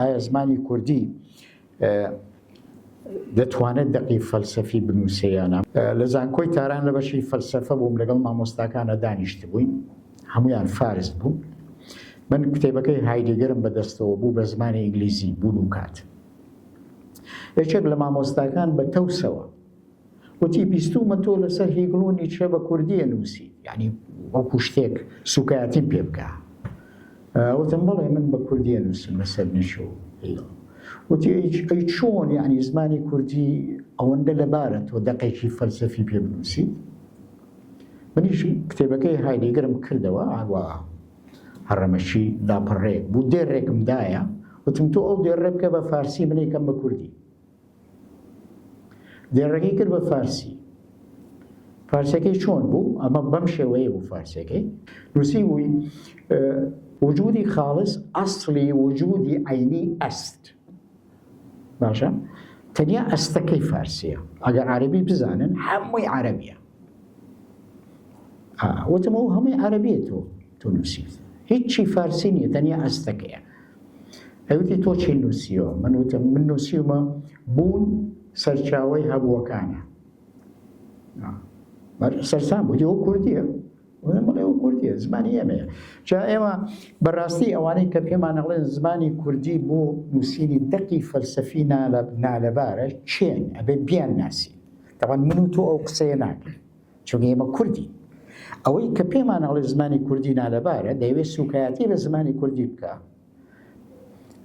ئایا زمانی کوردی دەتوانێت دەقی فەلسەفی بنووسێ یانە لە زانکۆی تاران لە بەشی فەلسەفە بووم لەگەڵ مامۆستاکانە دانیشت بووین هەمویان فارس بوو من کتێبەکەی هایدگەرم بەدەستەوە بوو بە زمانی ئینگلیزی بوون و کات یەکێک لە مامۆستاکان بە تەوسەوە وتی، بیستوومە تۆ لەسەر هیگڵ و نیچە بە کوردی ئەنووسیت، یانی وەکوو شتێک سووکایەتیم پێ بکا. وتم، بەڵێ من بە کوردی ئەنووسم لەسەر نیچە و هیگڵ. وتی، ئەی چۆن یانی زمانی کوردی ئەوەندە لەبارە تۆ دەقێکی فەلسەفی پێ بنووسیت؟ منیش کتێبەکەی هایدیگەرم کردەوە ئاوا هەڕەمەکی لاپەڕەیەک بوو، دێڕێکم دایە، وتم، تۆ ئەو دێڕە بکە بە فارسی من ئەیکەم بە کوردی. دێڕەکەی کرد بە فارسی. فارسەکەی چۆن بوو ئەمە بەم شێوەیە بوو فارسەکەی نووسی بووی وجودی خاڵس ئەسلی وجودی عینی ئەست باشە تەنیا ئەستەکەی فارسیە ئەگەر عربی بزانن هەمووی عربیە وتمەوە هەمووی عربیە تۆ تۆ نووسیت هیچی فارسی نیە تەنیا ئەستەکەیە ئەی وتی تۆ چی نووسیوە؟ من وتم من نووسیومە بوون سەرچاوەی هەبووەکانە. سەرسام بوو ئەو کوردیە بڵێ ئەو کوردیە زمانی ئێمەیە جا ئێمە بەڕاستی ئەوانەی کە پێمان نەڵێن زمانی کوردی بۆ نووسینی دەقی فەلسەفی نالەبارە چێن ئەبێ بیان ناسی دەوان من و تۆ ئەو قسەیە ناکەین چونکە ئێمە کوردین ئەوەی کە پێمان ئەڵێ زمانی کوردی نالەبارە دەیەوێت سوکایەتی لە زمانی کوردی بکە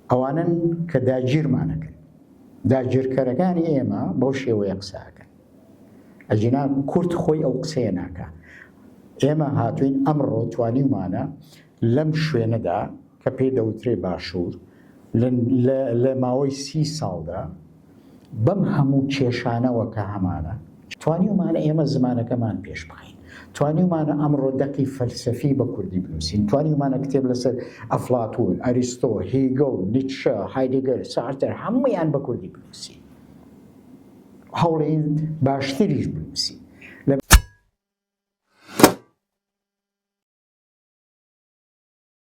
ئەوانن کە داگیرمانەکەن داگیرکەرەکانی ئێمە بەو شێوەیە قساکەن ئەجینا کورد خۆی ئەو قسەیە ناکە ئێمە هاتوین ئەمڕۆ توانیمانە لەم شوێنەدا کە پێی دەوترێ باشوور، لە ماوەی سی ساڵدا بەم هەموو کێشانەوە کە هەمانە، توانیومانە ئێمە زمانەکەمان پێش بخەین، توانیومانە ئەمڕۆ دەقی فەلسەفی بە کوردی بنووسین، توانیومانە کتێب لەسەر ئەفلاتوون، ئەریستۆ، هیگڵ، نیتشە، هایدیگەر، سارتەر هەموویان بە کوردی بنووسین و هەوڵێین باشتریش بنووسین.